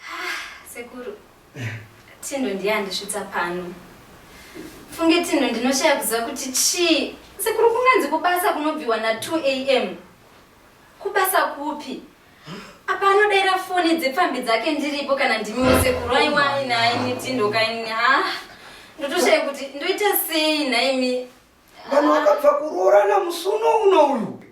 Ah, sekuru tindo ndiye andisvitsa pano funge tindo ndinoshaya kuziva kuti chii sekuru kunganzi kubasa kunobviwa na 2 am kubasa kupi apa anodaira foni dzepfambi dzake ndiripo kana ndimiwo sekuru aiwai naini tindo kaini ha ah, ndotoshaya kuti ndoita sei naimi Vanhu vakabva kuroorana musi uno uno uyu.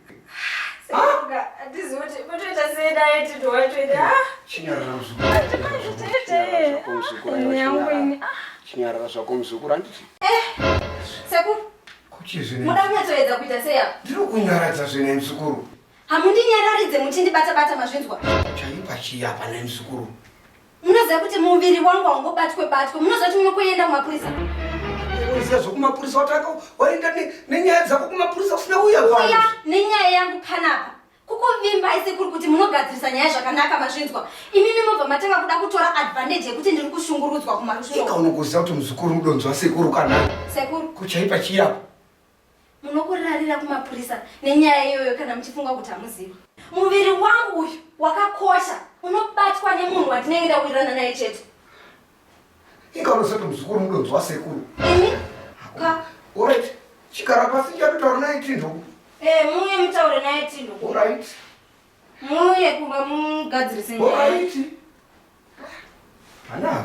Chinyarara zvako muzukuru handiti? Eh, sekuru. Kuchizvine. Muda kunyatsoedza kuita sei apa? Ndiri kunyaradza zvine muzukuru. Hamundinyararidze muchindibata bata mazvinzwa. Chaipa chiya pana muzukuru. Munoziva kuti muviri wangu haungobatwe batwe. Munoziva kuti munokuenda kumapurisa. Unoziva zvokumapurisa wataka waenda nenyaya dzako kumapurisa usina uya vanhu. Uya nenyaya yangu panapa. Kukuvimba isekuru kuti munogadzirisa nyaya zvakanaka mazvinzwa. Imimi mobva matanga kuda kutora advantage yekuti ndiri kushungurudzwa kumarusvingo. Ika unokuziva kuti muzukuru mudonzwa sekuru kana. Sekuru. Kuchaipa chiyapo. Munokurarira kumapurisa nenyaya iyoyo kana muchifunga kuti hamuzivi. Muviri wangu uyu wakakosha unobatwa nemunhu watinenge ndawirirana naye chete. Ika unosati muzukuru mudonzi wasekuru. Ini? Ka? Alright. Chikara pasi chatotaura naye Tindhu. Eh, muye mutaure naye Tindhu. Alright. Muye kumba mugadzirise nyaya. Alright. Ana.